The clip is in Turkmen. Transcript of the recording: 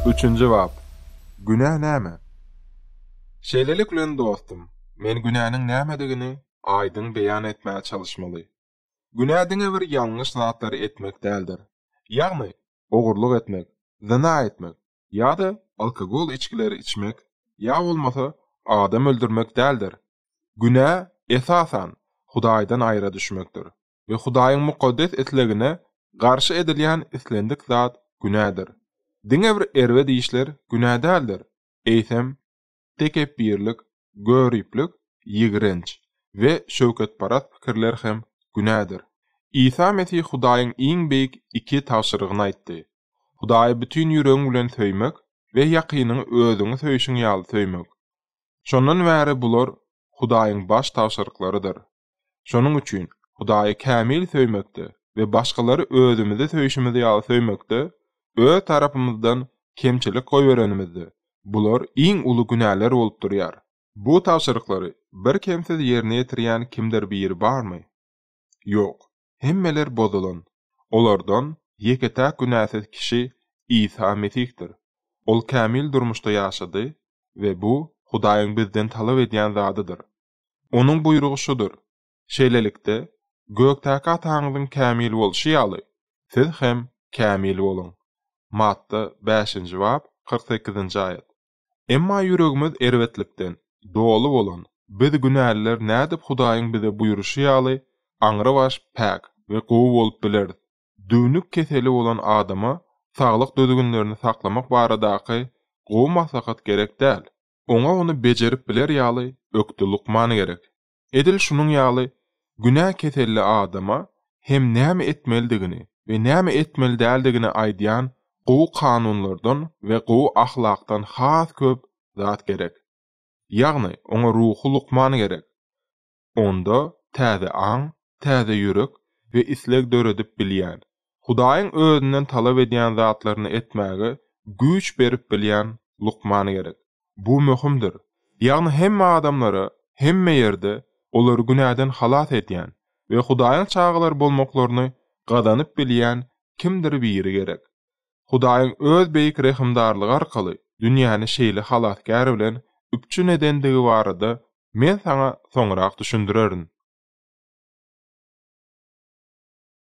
Üçünji bap. Günä näme? Şeýlelik bilen dostum, men günäniň nämedigini aýdyň beýan etmäge çalyşmaly. Günä diňe bir ýalňyş zatlary etmek däldir. Ýagny, ogurlyk etmek, zyna etmek ýa-da alkogol içgileri içmek ýa bolmasa adam öldürmek däldir. Günä, esasan, Hudaýdan aýra düşmekdir. we Hudaýyň mukaddes islegine garşy edilýän islendik zat günädir. Diňe bir erbet işler günä däldir, eýsem, tekepbirlik, göriplik, ýigrenç we şöwketparast pikirler hem günädir. Isa Mesih Hudaýyň iň beýik iki tabşyrygyny aýtdy, Hudaýy bütin ýüregiň bilen söýmek we ýakynyňy özüňi söýşüň ýaly söýmek. Şondan bäri bular Hudaýyň baş tabşyryklarydyr. Şonuň üçin Hudaýy kämil söýmekde we başgalary özümizi söýşümiz ýaly söýmekde öz tarapymyzdan kemçilik goýberenimizde, bular iň uly günäler bolup durýar. Bu tabşyryklary birkemsiz ýerine ýetirýän kimdir biri barmy? Ýok. Hemmeler bozulan. Olardan ýeke-täk günäsiz kişi Isa Mesihdir. Ol kämil durmuşda ýaşady we bu Hudaýyň bizden talap edýän zadydyr. Onuň buýrugy şudur, Şeýlelikde, gökdäki Ataňyzyň kämil bolşy ýaly, siz hem kämil boluň. Matta bäşinji bap, kyrk sekizinji aýat. Emma ýüregimiz erbetlikden doly bolan biz günäliler nädip Hudaýyň bize buýruşy ýaly aňrybaş päk we gowy bolup bileris? Düwnük keseli bolan adama saglyk düzgünlerini saklamak baradaky gowy maslahat gerek däl. Oňa ony bejerip biler ýaly ökde lukman gerek. Edil şunuň ýaly günä keselli adama hem näme etmelidigini we näme etmeli däldigini aýdýan gowy kanunlardan we gowy ahlakdan has köp zat gerek. Ýagny, oňa ruhy lukman gerek. onda täze aň, täze ýürek we isleg döredip bilýän, Hudaýyň özünden talap edýän zatlaryny etmäge güýç berip bilýän lukman gerek. Bu möhümdir. Ýagny hemme adamlara, hemme ýerde olary günäden halas edýän we Hudaýyň çagalary bolmaklaryny gazanyp bilýän kimdir biri gerek. Hudaýyň öz beýik rehimdarlygy arkaly dünýäni şeýle Halasgär bilen üpjün edendigi barada men saňa soňrak düşündirerin.